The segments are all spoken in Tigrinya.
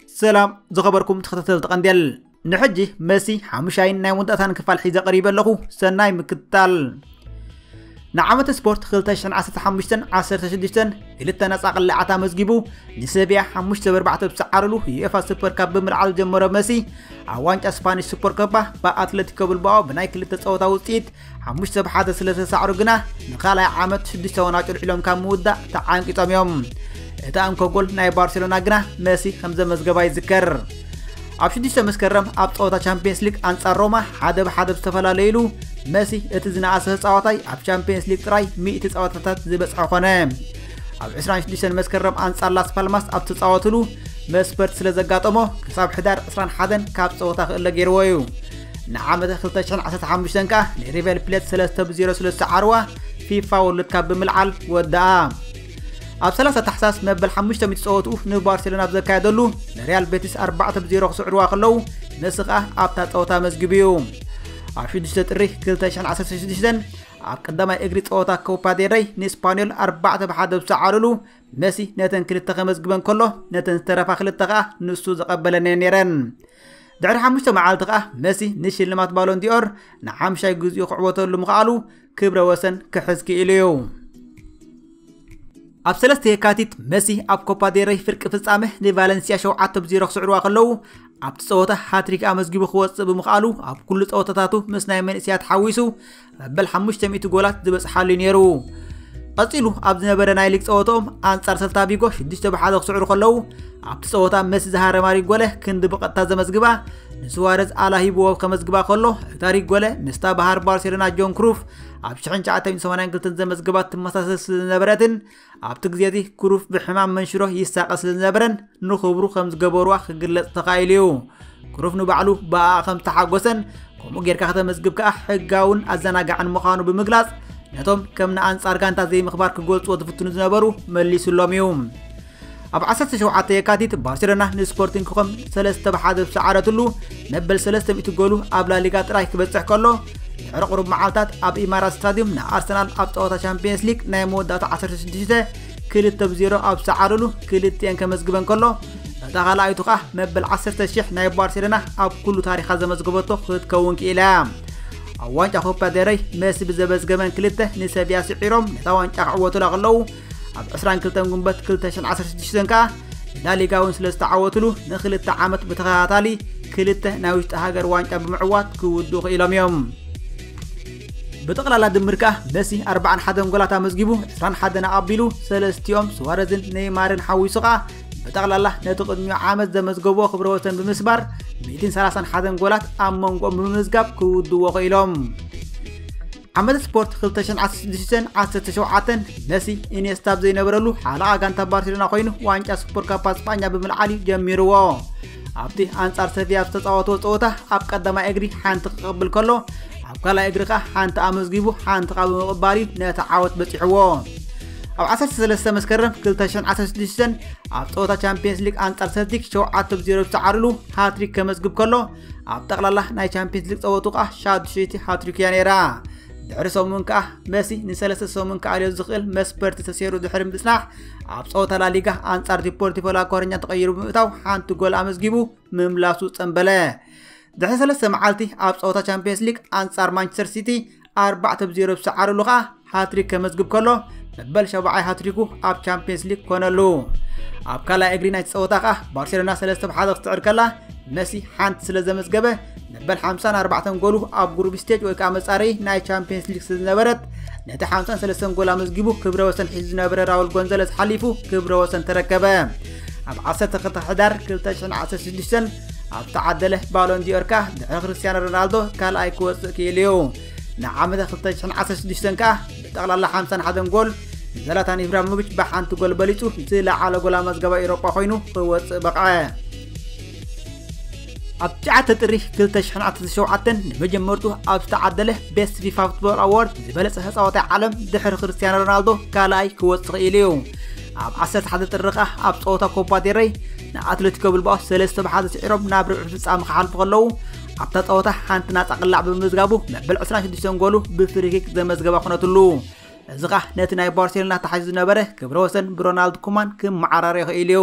ሰላም ዝኸበርኩም ተኸታተልቲ ቀንዴል ንሕጂ መሲ ሓሙሻይን ናይ ወንጣታን ክፋል ሒዘ ቀሪበ ኣለኹ ሰናይ ምክትታል ንዓመት ስፖርት 2015 16 ክልተ ነፃ ቅላዓት ኣመዝጊቡ ንሰብያ 5 ብ 4 ብሰዓርሉ ዩኤፋ ሱፐር ካብ ብምልዓል ጀመሮ መሲ ኣብ ዋንጫ ስፓኒሽ ሱፐር ኮፓ ብኣትለቲኮ ብልባኦ ብናይ ክልተ ፀወታ ውፅኢት 5 ብ 1 ስለ ዝተሳዕሩ ግና ንካልኣይ ዓመት 6 ወን ኣጭልዒሎም ካብ ምውዳእ ተዓንቂፆም እዮም እታ እንኮ ጎል ናይ ባርሴሎና ግና መሲ ከም ዘመዝገባ ይዝከር ኣብ ሽዱሽተ መስከረም ኣብ ፀወታ ቻምፒየንስ ሊግ ኣንጻር ሮማ ሓደ ብሓደ ዝተፈላለዩሉ መሲ እቲ ዝነኣሰ ተፃዋታይ ኣብ ቻምፒየንስ ሊግ ጥራይ ሚእቲ ፀወታታት ዝበፅሐ ኮነ ኣብ 26 መስከረም ኣንጻር ላስ ፓልማስ ኣብ ተፃወትሉ መስፈርት ስለ ዘጋጠሞ ክሳብ ሕዳር 21 ካብ ፀወታ ክእለ ገይርዎ እዩ ንዓመተ 2015 ከኣ ንሪቨል ፕሌት 3 ብ0 ስለ ዝተዓርዋ ፊፋ ወርልድ ካብ ብምልዓል ወደኣ ኣብ 30 ታሕሳስ መበል ሓሙሽተ ሚት ጸወትኡ ንባርሴሎና ኣብ ዘካየደሉ ንሪያል ቤቲስ 4 ብ0 ክስዕርዋ ከለዉ መሲ ከኣ ኣብታ ጸወታ መዝጊቡ እዩ ኣብ 6 ጥሪ 216 ኣብ ቀዳማይ እግሪ ጸወታ ኮፓ ዴረይ ንስፓኒዮል 4 ብ1 ዝሰዓርሉ መሲ ነተን ክልተ ከመዝግበን ከሎ ነተን ዝተረፋ ክልተ ከኣ ንሱ ዘቐበለን እየን ነይረን ድሕሪ ሓሙሽተ መዓልቲ ከኣ መሲ ንሽልማት ባሎንዲኦር ንሓምሻይ ግዜኡ ክዕወተሉ ምኽኣሉ ክብረ ወሰን ክሕዝ ክኢሉ እዩ። ኣብ 3 የካቲት መሲ ኣብ ኮፓ ዴረይ ፍርቂ ፍጻመ ንቫለንሲያ 7 ብ 0 ክስዕርዋ ከለዉ ኣብቲ ጸወታ ሃትሪክ ኣመዝጊቡ ክወጽእ ብምኽኣሉ ኣብ ኩሉ ጸወታታቱ ምስ ናይ መንእስያት ሓዊሱ መበል 500 ጎላት ዝበጽሓሉ እዩ ነይሩ። ቀጺሉ ኣብ ዝነበረ ናይ ሊግ ጸወታኦም ኣንጻር ሰልታ ቪጎ 6 ብ 1 ክስዕሩ ከለዉ ኣብቲ ጸወታ መሲ ዝሃረማ ሪጎለ ክንዲ ብቐጥታ ዘመዝግባ ንስዋረዝ ኣላሂብዎ ከመዝግባ ከሎ ታሪክ ጎለ ምስታ ባህር ባርሴሎና ጆን ክሩፍ ኣብ 1982 ዘመዝገባት ትመሳሰል ስለዝነበረትን ኣብቲ ግዜ እዚ ክሩፍ ብሕማም መንሽሮ ይሳቐ ስለዝነበረን ንኽብሩ ከም ዝገበሩዋ ክግለጽ ተኻኢሉ እዩ ክሩፍ ንባዕሉ ብኣ ከም ተሓጎሰን ከምኡ ጌርካ ከተመዝግብ ከኣ ሕጋውን ኣዘናጋዕን ምዃኑ ብምግላጽ ነቶም ከም ንኣንጻር ጋንታ ዘይምኽባር ክገልጽዎ ዝፍትኑ ዝነበሩ መሊሱሎም እዩ ኣብ ዓሰርተ ሸውዓተ የካቲት ባርሴሎና ንስፖርቲንግ ክኾም ሰለስተ ብ ሓደ ዝሰዓረትሉ መበል ሰለስተ ሚእቲ ጎሉ ኣብ ላሊጋ ጥራይ ክበጽሕ ከሎ ድሕሪ ቁሩብ መዓልታት ኣብ ኢማራት ስታድዩም ንኣርሰናል ኣብ ጸወታ ሻምፒየንስ ሊግ ናይ መወዳእታ 16 ክልተ ብ ዜሮ ኣብ ዝሰዓረሉ ክልቲኤን ከመዝግበን ከሎ እታ ካልኣይቱ ከኣ መበል 10 ሽሕ ናይ ባርሴሎና ኣብ ኩሉ ታሪኻ ዘመዝገበቶ ክትከውን ክኢላ እያ ኣብ ዋንጫ ኮፓ ደረይ መሲ ብዘመዝገበን ክልተ ንሰብያ ስዒሮም ነታ ዋንጫ ክዕወቱላ ከለዉ ኣብ 22 ጉንበት 2016 ከኣ ላሊጋ እውን ስለ ዝተዓወትሉ ንክልተ ዓመት ብተኸታታሊ ክልተ ናይ ውሽጢ ሃገር ዋንጫ ብምዕዋት ክውድኡ ክኢሎም እዮም ብጠቕላላ ድምር ከኣ መሲ 41 ጎላት ኣመዝጊቡ 21 ኣቐቢሉ ሰለስቲኦም ስዋረዝን ነይማርን ሓዊሱ ከኣ ብጠቕላላ ነቲ ቅድሚኡ ዓመት ዘመዝገቦ ክብረ ወሰን ብምስባር 131 ጎላት ኣብ መንጎኦም ብምምዝጋብ ክውድዎ ክኢሎም ዓመተ ስፖርት 2016ን 17ን መሲ ኢኔስታ ኣብ ዘይነበረሉ ሓለቓ ጋንታ ባርሴሎና ኮይኑ ዋንጫ ሱፐር ካፓ ስጳኛ ብምልዓል እዩ ጀሚርዎ ኣብቲ ኣንጻር ሰቪያ ኣብ ዝተፃወትዎ ፀወታ ኣብ ቀዳማይ እግሪ ሓንቲ ክቕብል ከሎ ኣብ ካልኣይ እግሪ ከዓ ሓንቲ ኣመዝጊቡ ሓንቲ ካ ብምቕባል እዩ ነቲ ዓወት በፂሕዎ ኣብ 13 መስከረም 2016 ኣብ ፀወታ ቻምፒየንስ ሊግ ኣንጻር ሰልቲክ 7 ብ 0 ዝተዓርሉ ሃትሪክ ከመዝግብ ከሎ ኣብ ጠቕላላ ናይ ቻምፒየንስ ሊግ ጸወቱ ከኣ ሻዱሸይቲ ሃትሪክ እያ ነይራ ድሕሪ ሰሙን ከኣ መሲ ንሰለስተ ሰሙን ክኣልዮ ዝኽእል መስበርቲ ተሰይሩ ድሕሪ ምጽናሕ ኣብ ጸወታ ላሊጋ ኣንጻር ዲፖርቲቮ ላኮረኛ ተቐይሩ ብምእታው ሓንቲ ጎል ኣመዝጊቡ ምምላሱ ጸንበለ ድሕሪ ሰለስተ መዓልቲ ኣብ ጸወታ ቻምፒየንስ ሊግ ኣንጻር ማንቸስተር ሲቲ ኣርባዕተ ብ ዜሮ ዝሰዓርሉ ከኣ ሃትሪክ ከመዝግብ ከሎ መበል ሸባዓይ ሃትሪኩ ኣብ ቻምፒየንስ ሊግ ኮነሉ ኣብ ካልኣይ እግሪ ናይቲ ጸወታ ከኣ ባርሴሎና ሰለስተ ብ ሓደ ክትስዕር ከላ መሲ ሓንቲ ስለ ዘመዝገበ መበል 54 ጎሉ ኣብ ጉሩብ ስቴጅ ወይ ከዓ መጻረይ ናይ ቻምፒየንስ ሊግ ስለዝነበረት ነቲ 53 ጎል ኣመዝጊቡ ክብረ ወሰን ሒዙ ዝነበረ ራውል ጎንዘለስ ሓሊፉ ክብረ ወሰን ተረከበ ኣብ 12 ሕዳር 2016 ኣብ ተዓደለ ባሎን ዲዮር ከኣ ድሕሪ ክርስትያኖ ሮናልዶ ካልኣይ ክወፅእ ክኢሉ እዩ ንዓመተ 2016 ከኣ ብጠቕላላ 51 ጎል ንዘላታን ኢብራሂሞቪች ብሓንቲ ጎል በሊፁ ዝለዓለ ጎል ኣመዝገባ ኤውሮጳ ኮይኑ ክወፅእ በቕዐ ኣብ ሸዓተ ጥሪ 2017 ንመጀመርቱ ኣብ ዝተዓደለ ቤስት ፊፋ ፉትቦል ኣዋርድ ዝበለፀ ተፃዋታይ ዓለም ድሕሪ ክርስትያኖ ሮናልዶ ካልኣይ ክወፅእ ክኢሉ እዩ ኣብ ዓሰርተ ሓደ ጥሪ ከኣ ኣብ ጸወታ ኮፓ ዴረይ ንኣትለቲኮ ብልባኦ ሰለስተ ብሓደ ስዒሮም ናብ ርብዒ ፍጻመ ክሓልፉ ከለዉ ኣብታ ጸወታ ሓንቲ ናጻ ቅላዕ ብምምዝጋቡ መበል 26 ጎሉ ብፍሪኪክ ዘመዝገባ ኩነትሉ እዚ ከኣ ነቲ ናይ ባርሴሎና ተሓይዙ ዝነበረ ክብረ ወሰን ብሮናልድ ኩማን ክመዓራረ ይኽእል እዩ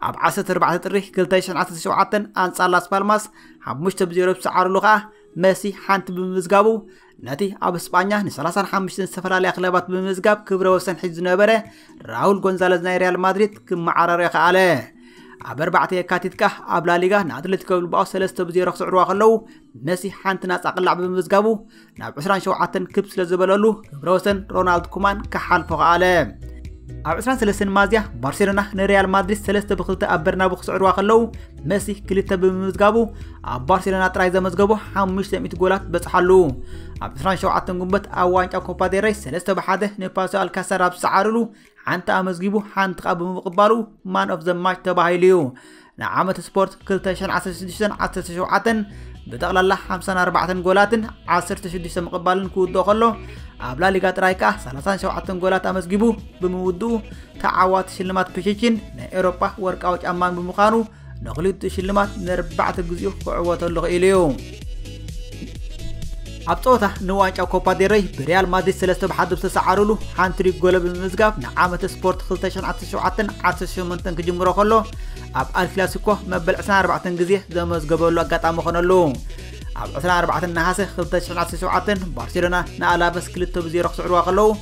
ኣብ 14 ጥሪ 2017 ኣንጻር ላስ ፓልማስ 5 ብ0 ዝሰዓርሉ ከኣ መሲ ሓንቲ ብምምዝጋቡ ነቲ ኣብ እስጳኛ ንሰላሳን ሓሙሽተን ዝተፈላለያ ክለባት ብምምዝጋብ ክብረ ወሰን ሒዙ ዝነበረ ራውል ጎንዛለዝ ናይ ሪያል ማድሪድ ክመዓራርዮ ከኣለ ኣብ ኣርባዕተ የካቲት ከዓ ኣብ ላሊጋ ንኣትሌቲኮ ብልባኦ ሰለስተ ብዜሮ ክስዕርዋ ከለዉ መሲ ሓንቲ ናፃ ቅላዕ ብምምዝጋቡ ናብ 27 ክብ ስለ ዝበለሉ ክብረ ወሰን ሮናልድ ኩማን ክሓልፎ ከኣለ ኣብ 23 ማዝያ ባርሴሎና ንሪያል ማድሪድ 3 ብ2 ኣብ በርናቡ ክስዕርዋ ከለዉ መሲ ክልተ ብምምዝጋቡ ኣብ ባርሴሎና ጥራይ ዘመዝገቦ 500 ጎላት በጽሓሉ ኣብ 27 ግንቦት ኣብ ዋንጫ ኮፓ ዴረይ 3 ብሓደ ንፓሶ ኣልካሳር ኣብ ዝሰዓርሉ ሓንቲ ኣመዝጊቡ ሓንቲ ቃ ብምቕባሉ ማን ኦፍ ዘማች ተባሂሉ እዩ ንዓመት ስፖርት 2016-17 ብጠቕላላ 54 ጎላትን 16 ምቕባልን ክውድኦ ከሎ ኣብ ላሊጋ ጥራይ ከኣ 37 ጎላት ኣመዝጊቡ ብምውድኡ ተዓዋቲ ሽልማት ፒቺቺን ናይ ኤውሮጳ ወርቃዊ ጫማን ብምዃኑ ንክልቲኡ ሽልማት ንርባዕተ ግዜኡ ክዕወተሉ ክኢሉ እዩ ኣብ ፀወታ ንዋንጫ ኮፓ ዴረይ ብሪያል ማድሪድ ሰለስተ ብሓደ ዝተሰዓሩሉ ሓንቲ ሪግ ጎሎ ብምምዝጋብ ንዓመተ ስፖርት 2017-18 ክጅምሮ ከሎ ኣብ ኣልክላሲኮ መበል 24 ግዜ ዘመዝገበሉ ኣጋጣሚ ኾነሉ ኣብ 24 ነሃሰ 2017 ባርሴሎና ንኣላቨስ 2 ብ0 ክስዕርዋ ከለዉ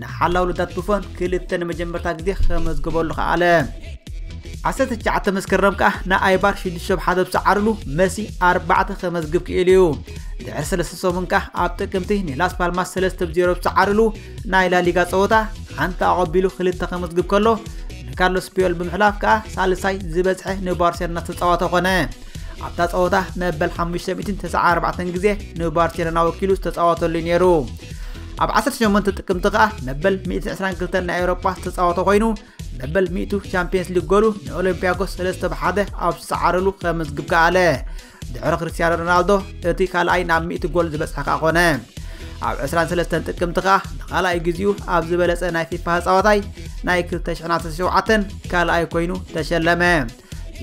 ንሓላውልታት ቡፎን ክልተ ንመጀመርታ ግዜ ከመዝግበሉ ከኣለ 19 መስከረም ከኣ ንኣይባር 6 ሸብ ሓደ ብሰዓርሉ መሲ 4 ከመዝግብ ክኢሉ እዩ ድሕሪ ሰለስተ ሰሙን ከኣ ኣብ ጥቅምቲ ንላስ ፓልማስ 3 ብ 0 ብሰዓርሉ ናይ ላሊጋ ጸወታ ሓንቲ ኣቐቢሉ ክልተ ከመዝግብ ከሎ ንካርሎስ ፒዮል ብምሕላፍ ከኣ ሳልሳይ ዝበዝሐ ንባርሴሎና ዝተጻወተ ኮነ ኣብታ ጸወታ መበል 594 ግዜ ንባርሴሎና ወኪሉ ዝተጻወተሉ ነይሩ ኣብ ዓሰርተ ሸሞንተ ጥቅምቲ ከኣ መበል ሚእቲ ዕስራን ክልተን ናይ ኤውሮጳ ዝተጻወተ ኮይኑ መበል ሚእቱ ቻምፕየንስ ሊግ ጎሉ ንኦሎምፒያኮስ ሰለስተ ብሓደ ኣብ ዝሰዓረሉ ከመዝግብ ከኣለ ድሕሪ ክርስትያኖ ሮናልዶ እቲ ካልኣይ ናብ ሚእቲ ጎል ዝበጽሐ ከኣ ኮነ ኣብ 23 ጥቅምቲ ከኣ ንኻልኣይ ግዜኡ ኣብ ዝበለጸ ናይ ፊፋ ህፃወታይ ናይ 2017 ካልኣይ ኮይኑ ተሸለመ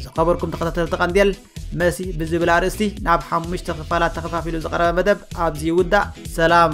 ዝኸበርኩም ተኸታተልቲ ቀንዴል መሲ ብዝብል ኣርእስቲ ናብ ሓሙሽተ ክፋላት ተኸፋፊሉ ዝቐረበ መደብ ኣብዚ ይውዳእ ሰላም